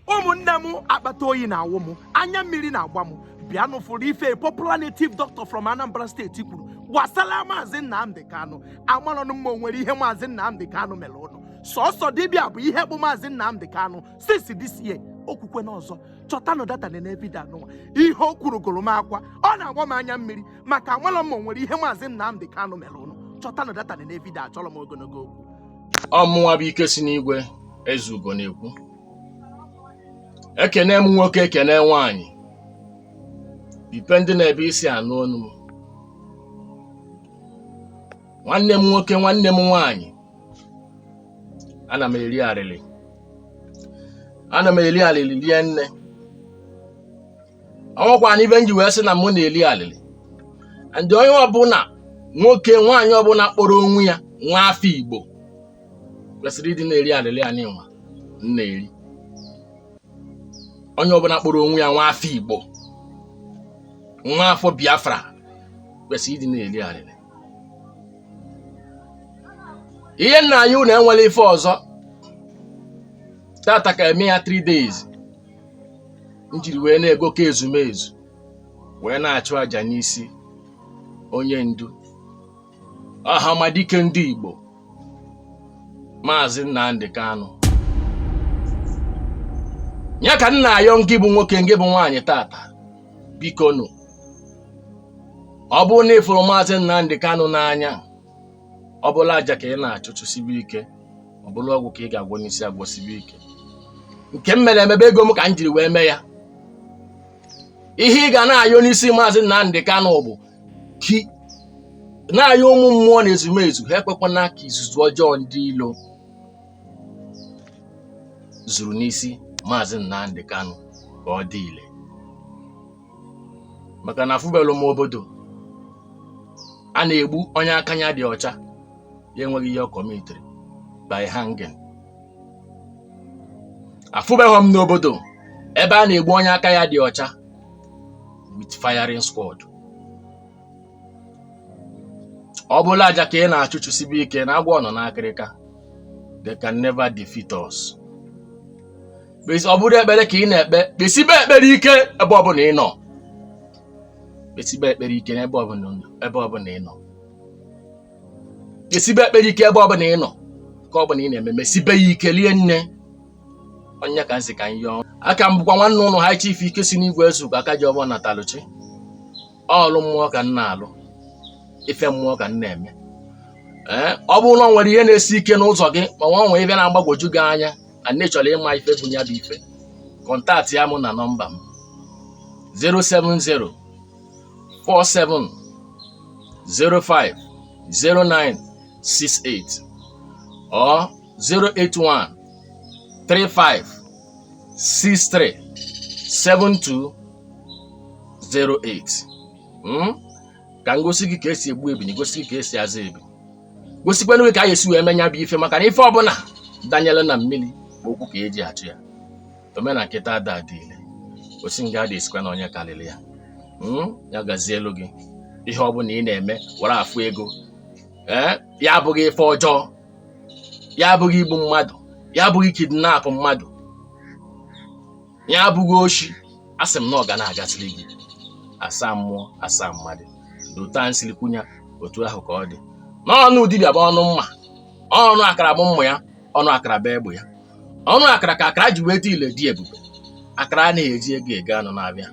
ụmụnne m akpata oyi na-awụ m anya mmiri na-agba m bịanụ fụrụ ife a popular native doctor from Anambra State kwuru gbasara maazị Nnamdi Kanu amarọnụ m ma o nwere ihe maazị Nnamdi Kanu mere ụnụ sọsọ dibịa bụ ihe bụ maazị Nnamdi Kanu since this year o kwukwene ọzọ chọtanụ data nee vidio anụnwa ihe o kwuru gụrụ m akwa ọ na-agba m anya mmiri maka amarọ m ma o nwere ihe maazị Nnamdi Kanu mere ụnụ chọtanụ data nee vidio achọrọ m ogologo okwu ọmụnwa bụ ike si n'igwe eze ugo na-ekwu ekene m nwoke ekene nwaanyị depending n'ebe i si anụ onu m nwanne m nwoke nwanne m nwaanyị ana m eri arịrị ana m eri arịrị rie nne o nwekwanị ive m ji wee sị na mụ na-eri arịrị and onye ọbụla nwoke nwaanyị ọbụla kpọrọ onwe ya nwa afọ igbo kwesịrị ịdị na-eri alịlị anịnwa m na-eri onye ọbụla kpọrọ onwe ya nwa afọ Igbo nwa afọ Biafra kwesịrị ịdị na-eri alịlị ihe m na-ayọ unu enwere ife ọzọ tata ka eme ya 3 days m jiri wee na-agọku ezumezu wee na-achụ àjà n'isi onye ndu ọhamadike ndị Igbo maazị Nnamdi Kanu ya ka m na-ayọ ngị bụ nwoke ngị bụ nwaanyị tata bikonụ ọ bụrụ na ị fụrụ maazị Nnamdi Kanu n'anya ọ bụlụ aja ka ị na-achụ chụsibe ike ọ bụlụ ọgwụ ka ị ga-agwọ n'isi ya gwọsibe ike nke m mere eme bụ ego m ka m jiri wee mee ya ihe ị ga na-ayọ n'isi maazị Nnamdi Kanu bụ ka ị na-ayọ ụmụ mmụọ na ezumezu ha ekwekwana ka izuzu ọjọọ ndị ilo zuru n'isi maazị Nnamdi Kanu ka ọ dị ile maka na afụbelụ m obodo a na-egbu onye aka ya dị ọcha ya enweghị ihe ọ kọmitiri by hanging afụbeghị m n'obodo ebe a na-egbu onye aka ya dị ọcha with firing squad ọ bụlụ aja ka ị na-achụ chụsibe ike na agwọ nọ n'akịrịka they can never defeat us ọ bụrụ ekpere ka ị na-ekpe kpesibe ekpere ike ebe ọbụla ị nọ kpesibe ekpere ike ebe ọbụla ị nọ kpesibe ekpere ike ebe ọbụla ị nọ nke ọbụla ị na-eme mesibe ya ike lie nne onye ka nsị ka m yọọ aka m bụkwa nwanne ụnụ high chief ike si n'igwe ezugo aka ji ọgbọ natalụchi ọlụ mmụọ ka m na-alụ ife mmụọ ka m na-eme ee ọ bụrụ na ọ nwere ihe na-esi ike n'ụzọ gị ma ọ nwee ife na-agbagwoju gị anya na ị chọrọ ịma ife bụ ya bụ ife kọntaktịa mụ na nọmba m 070 47 05 09 68 ọ 081 35 63 72 08 Mm? ka m gosi gị ka esi egbu ebini gosi gị ka esi aza ebi gosikwanụ gị ka anyị si wee eme ya bụ ife maka na ife ọbụla danyere na mmiri bụ ụkwụ ka eji achọ ya omena nkịta ada adị ile osi nga ada esikwa na onye karịrị ya Mm? ya gazielu gị ihe ọbụla ị na-eme were afụ ego ee ya abụghị ife ọjọọ ya abụghị igbu mmadụ ya abụghị kidnap mmadụ ya abụghị oshi asị m na ọ ga na-agaziri gị asaa mmụọ asaa mmadụ dota nsiri kwunya otu ahụ ka ọ dị na ọnụ dibịa bụ ọnụ mma ọnụ akara bụ mma ya ọnụ akara bụ egbe ya ọnụ akara ka akara ji wee dị ile dị ebube akara anaghị eji ego ego anụ n'afịa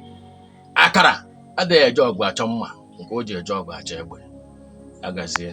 akara adịghị eje ọgụ achọ mma nke o ji eje ọgụ achọ egbe agazie